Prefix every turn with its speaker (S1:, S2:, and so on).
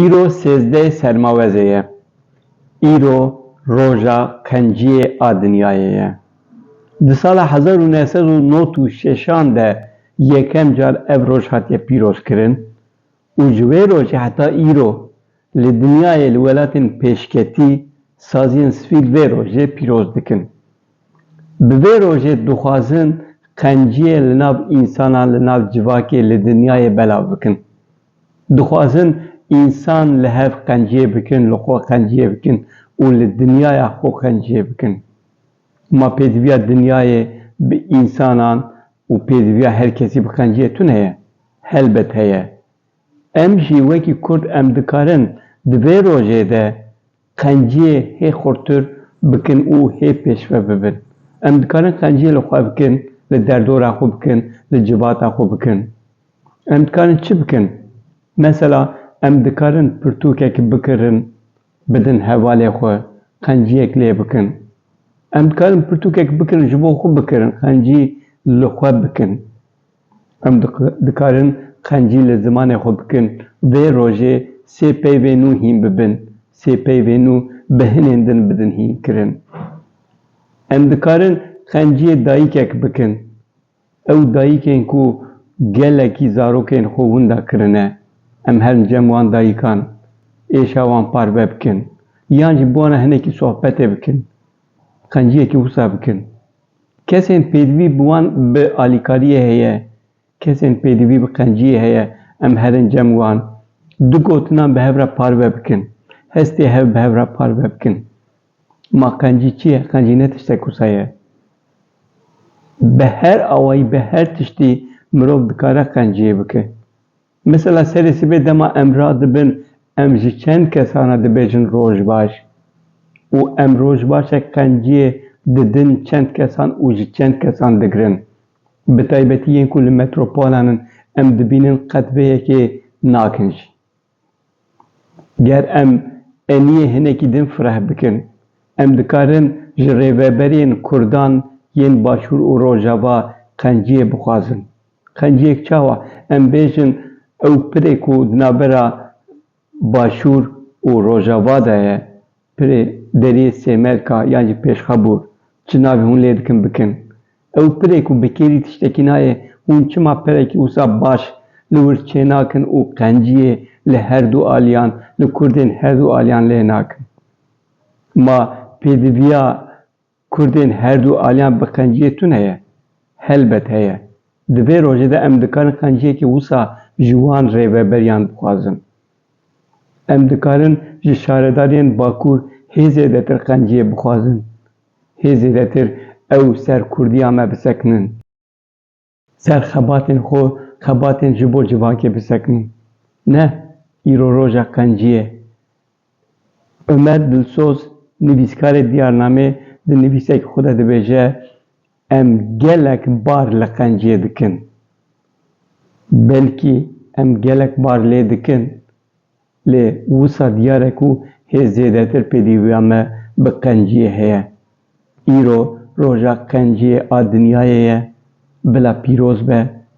S1: Îro sêzdeh Sermawezê ye. Îro roja qenciyê a dinyayê ye. Di sala hezar û neh sed û nod û şeşan de yekem car ev roj hatiye pîrozkirin û ji wê rojê heta îro li dinyayê li welatên pêşketî saziyên sifîl vê rojê pîroz dikin. Bi vê rojê dixwazin qenciyê li nav însanan li nav civakê li dinyayê belav bikin. Dixwazin însan li hev qenciyê bikin, li xwe qenciyê bikin û li dinyaya xwe qenciyê bikin. Ma pêdiviya dinyayê bi însanan û pêdiviya her kesî bi qenciyê tune ye. Helbet heye. Em jî wekî Kurd em dikarin di vê rojê de qenciyê hê xurtir bikin û hê pêşve bibin. Em dikarin qenciyê li xwe bikin, li derdora xwe bikin, li civata xwe bikin. Em dikarin çi bikin? Mesela em dikarin pirtûkek bikirin bidin hevalê xwe, qenciyek lê bikin. Em dikarin pirtûkek bikirin ji bo xwe bikirin, qencî li xwe bikin. Em dikarin qencî li zimanê xwe bikin. Vê rojê sê peyvên nû hîn bibin, sê peyvên nû bi hinên din bidin hînkirin. Em dikarin qenciyê dayikek bikin. Ew dayikên ku gelekî zarokên xwe winda kirine, em herin cem wan dayikan êşa wan parve bikin, yan jî bi wan re hinekî sohbetê bikin, qenciyekî wisa bikin. Kesên pêdivî bi wan bi alîkariyê heye, kesên pêdivî bi qenciyê heye, em herincem wan du gotinan bi hev re parve bikin, hestê hev bi hev re parve bikin. Ma qencî çi ye? Qencî ne tiştek wisa ye. Bi her awayî, bi her tiştî mirov dikare qenciyê bike. Mesela serê sibê dema em radibin em ji çend kesan re dibêjin rojbaş û em rojbaşek qenciyê didin çend kesan û ji çend kesan digirin. Bi taybetî yên ku li metropolan in em dibînin qet vê yekê nakin jî. Ger em eniyê hinekî din fireh bikin em dikarin ji rêveberiyên kurdan yên başûr û rojava qenciyê bixwazin. Qenciyek çawa em bêjin ew pirê ku di navbera Başûr û Rojava de ye, pirê Deriyê Sêmelka yan jî Pêşxabûr, çi navê hûn lê dikin bikin? Ew pirê ku bi kêrî tiştekî nayê hûn çima pirekî wisa baş li wir çênakin û qenciyê li herdû aliyan, li kurdên herdû aliyan lê nakin? Ma pêdiviya. Kurdên her du aliyan bi qenciyê tun heye? Helbet heye. Di vê rojê de em dikarin qenciyekî wisa ji wan rêveberiyan bixwazin. Em dikarin ji şaredariyên Bakur hê zêdetir qenciyê bixwazin, hê zêdetir ew ser Kurdiya me bisekinin. Ser xebatên xwe xebatên ji bo civakê bisekinî. Ne îro roja qencî ye. Omer Dilsoz nivîskarê Diyarnamê di nivîsekî xwe de dibêje, Em gelek bar li qenciyê dikin. Belkî em gelek bar lê dikin Lê wisa diyar e ku hê zêdetir pêdîviya me bi qenciyê heye. Îro roja qenciyê a dinyayê ye. Bila pîroz be.